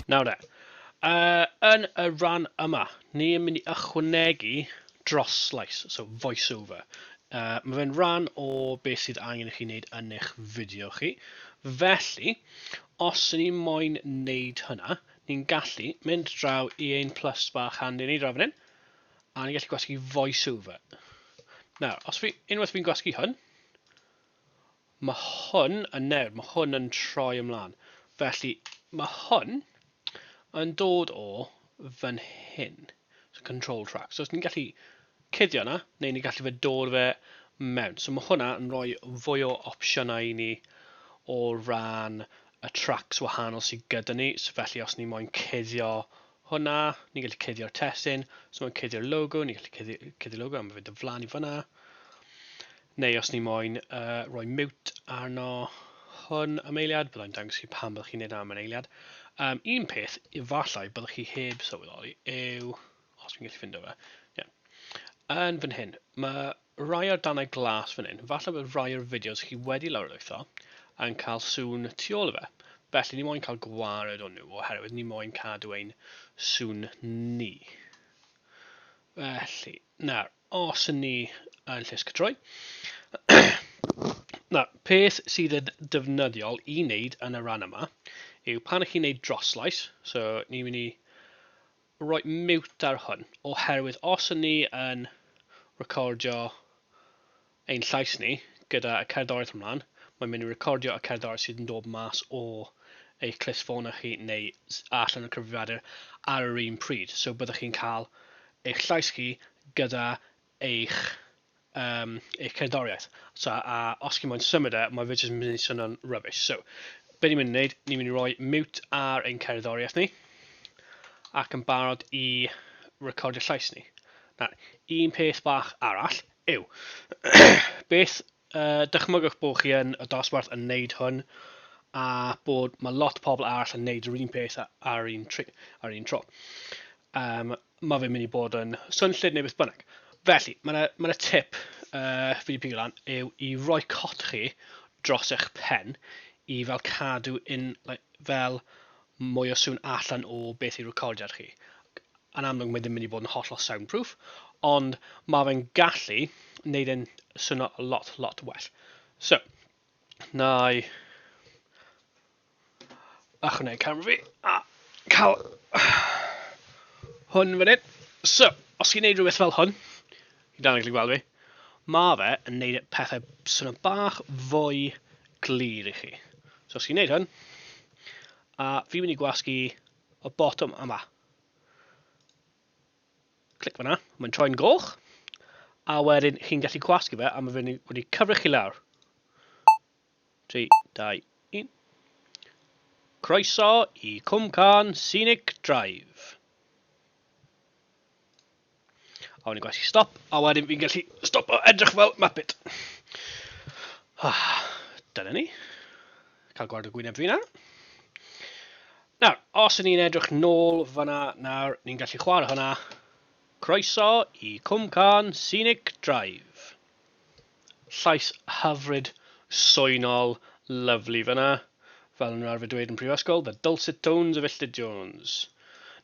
Nawr de, uh, yn y rhan yma, ni yn mynd i ychwanegu dros slice, so voiceover. Uh, mae fe'n rhan o beth sydd angen i chi wneud yn eich fideo chi. Felly, os ydyn ni moyn wneud hynna, ni'n gallu mynd draw i ein plus bach handi ni draw fan hyn, A ni'n gallu gwasgu voiceover. Nawr, os fi, unwaith fi'n gwasgu hwn, mae hwn yn newid, mae hwn yn troi ymlaen. Felly, mae hwn yn dod o fan hyn. So, control track. So, os ni'n gallu cuddio yna, neu ni'n gallu fe dod fe mewn. So, mae hwnna yn rhoi fwy o opsiynau i ni o ran y tracks wahanol sydd gyda ni. So, felly, os ni moyn cuddio hwnna, ni'n gallu cuddio'r testun, os mae'n cuddio'r logo, ni'n gallu cuddio, cuddio logo, am fynd yn flan i fyna. Neu os ni moyn uh, rhoi mute arno hwn am eiliad, byddai'n dangos chi pan byddwch chi'n neud am yn eiliad. Um, un peth, efallai byddwch chi heb sylweddoli, yw, os fi'n gallu ffindo fe, yeah. yn fan hyn, mae Rhai o'r darnau glas fan hyn, falle bod rhai o'r fideos chi wedi lawrlwytho yn cael sŵn tu ôl i fe, felly ni moyn cael gwared o nhw oherwydd ni moyn cadw ein sŵn ni. Felly, nawr, os yn ni yn llys cytroi, nawr, peth sydd yn defnyddiol i wneud yn y rhan yma yw pan chi'n wneud droslais, so ni'n mynd i roi mute ar hwn, oherwydd os ŷn ni yn recordio ein llais ni gyda y cerddoriaeth ymlaen, mae'n mynd i recordio y cerddoriaeth sydd yn dod mas o eich clust ffôn chi neu allan o'r cyfrifiadur ar yr un pryd, so byddwch chi'n cael eich llais chi gyda eich um, eich cerddoriaeth. So, a os chi'n moyn symud e, mae fe jyst yn mynd i swnio'n rubbish. So, be ni'n mynd i wneud, ni'n mynd i roi mute ar ein cerddoriaeth ni, ac yn barod i recordio llais ni. Nawr, un peth bach arall yw, beth Yy, dychmygwch bod chi yn y dosbarth yn neud hwn, a bod ma' lot pobl arall yn neud yr un peth a- ar un tri- ar un tro. Yym, ma' fe'n mynd i bod yn swnllyd neu beth bynnag. Felly, ma' 'na ma' 'na tip yy fi 'di pigo lan yw i roi cot chi dros eich pen i fel cadw un like fel mwy o sŵn allan o beth yw recordiad chi. yn amlwg mae ddim mynd i fod yn hollol sound proof, ond mae fe'n gallu wneud e'n swnio lot, lot well. So, na i achwnau camera fi a cael hwn fan hyn. So, os chi'n gwneud rhywbeth fel hwn, i dan gallu gweld fi, mae fe yn gwneud e pethau swnio bach fwy glir i chi. So, os chi'n gwneud hwn, a fi'n mynd i gwasgu y botwm yma, Clic fanna, mae'n troi'n goch, a wedyn chi'n gallu gwasgu fe, a mae fe wedi cyfrif chi lawr. 3, 2, 1. Croeso i Cwmcarn Scenic Drive. A wedyn gwasi stop, a wedyn fi'n gallu stop o edrych fel mapit. Ah, dyna ni. Cael gweld y gwyneb fi na. Nawr, os ni'n edrych nôl fyna, nawr, ni'n gallu chwarae hwnna. Croeso i Cwmcarn Scenic Drive. Llais hyfryd, soenol, lyfli fan'na. Fel o'n nhw'n arfer dweud yn prifysgol, the dulcet tones of Illtud Jones.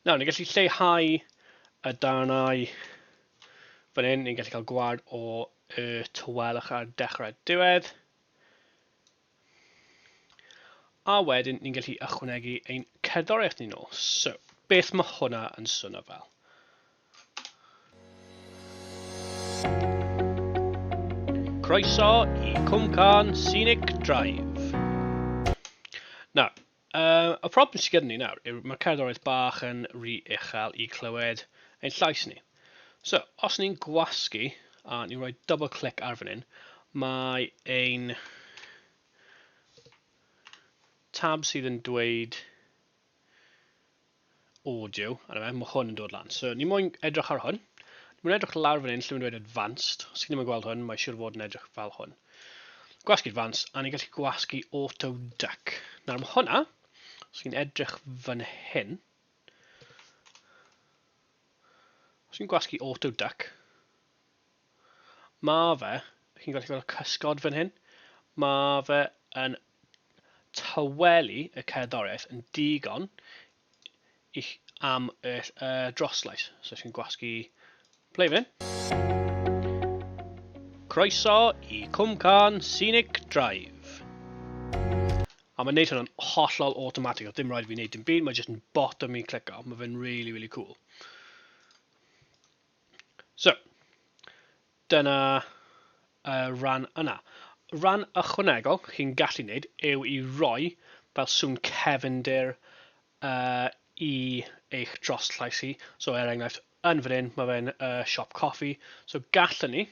Nawr, ni'n gallu lleihau y darnau fan hyn, ni'n gallu cael gwad o y tawelwch ar dechrau a diwedd. A wedyn ni'n gallu ychwanegu ein cerddoriaeth ni nôl. So, beth mae hwnna yn swnio fel? Croeso i Cwmcarn Scenic Drive. Nawr, Yy, y problem sy gyda ni nawr yw ma' cerddoriaeth bach yn ry uchel i clywed ein llais ni. So, os ni'n gwasgu a ni'n rhoi double click ar fan hyn, mae ein tab sydd yn dweud O jiw, a 'na fe, mae hwn yn dod lan. So, ni moyn edrych ar hwn. Ni moyn edrych lawr fan hyn, lle mae'n dweud advanced. Os chi ddim yn gweld hwn, mae siwr fod yn edrych fel hwn. Gwasgu advanced, a ni gallu gwasgu auto duck. Nawr mae hwnna, os chi'n edrych fan hyn, os chi'n gwasgu auto duck, Mae fe, chi'n gallu gweld y cysgod fan hyn, mae fe yn tawelu y cerddoriaeth yn digon i, am y, y droslais. So chi'n gwasgu play fan hyn. Croeso i Cwmcarn Scenic Drive. A mae'n neud hwnna'n hollol automatic, oedd dim rhaid fi wneud dim byd, mae jyst yn botwm i'n clicio, mae fe'n really, really cool. So, dyna y ran yna. Ran ychwanegol chi'n gallu gwneud yw i roi fel sŵn cefndir uh, i eich dros llais chi. So er enghraifft, yn fan hyn, mae fe'n uh, siop coffi. So gallwn ni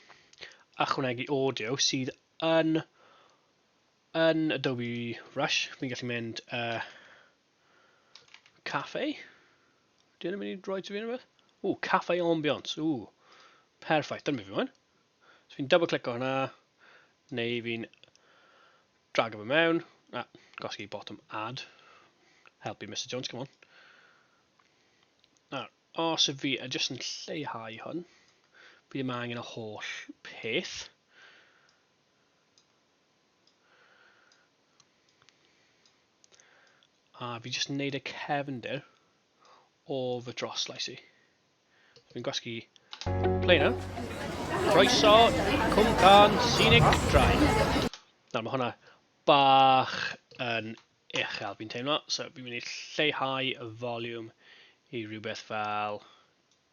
ychwanegu audio sydd yn yn Adobe Rush. Fi'n gallu mynd uh, Cafe? Dwi ddim yn mynd i roi ti fi rhywbeth? Ww, cafe ambiance. Ww, perffaith. Dyna mi fi mwyn. So fi'n double click o hwnna. Neu fi'n drag o fe mewn. A, gosgi bottom add. Help you, Mr Jones, come on. Nawr, os y fi a jyst yn lleihau hwn, fi ddim angen y holl peth. A fi jyst yn neud y cefndir o fy troslais i. Fi'n gwasgu play na. Croeso i Cwmcarn Scenic Drive. Nawr mae hwnna bach yn uchel fi'n teimlo, so fi'n mynd i lleihau y volume i rhywbeth fel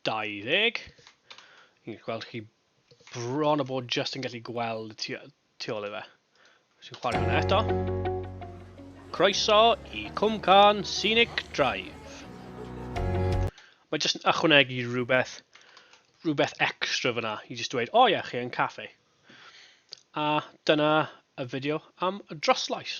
20. Fi'n gweld chi bron o bod just yn gallu gweld y tu tu ôl i fe. Sy'n chwarae hwnna eto. Croeso i Cwmcarn Scenic Drive. Mae jyst yn ychwanegu rhywbeth, rhywbeth extra fyna i jyst dweud, o oh, ie, yeah, chi yn caffe. A dyna y fideo am y droslais.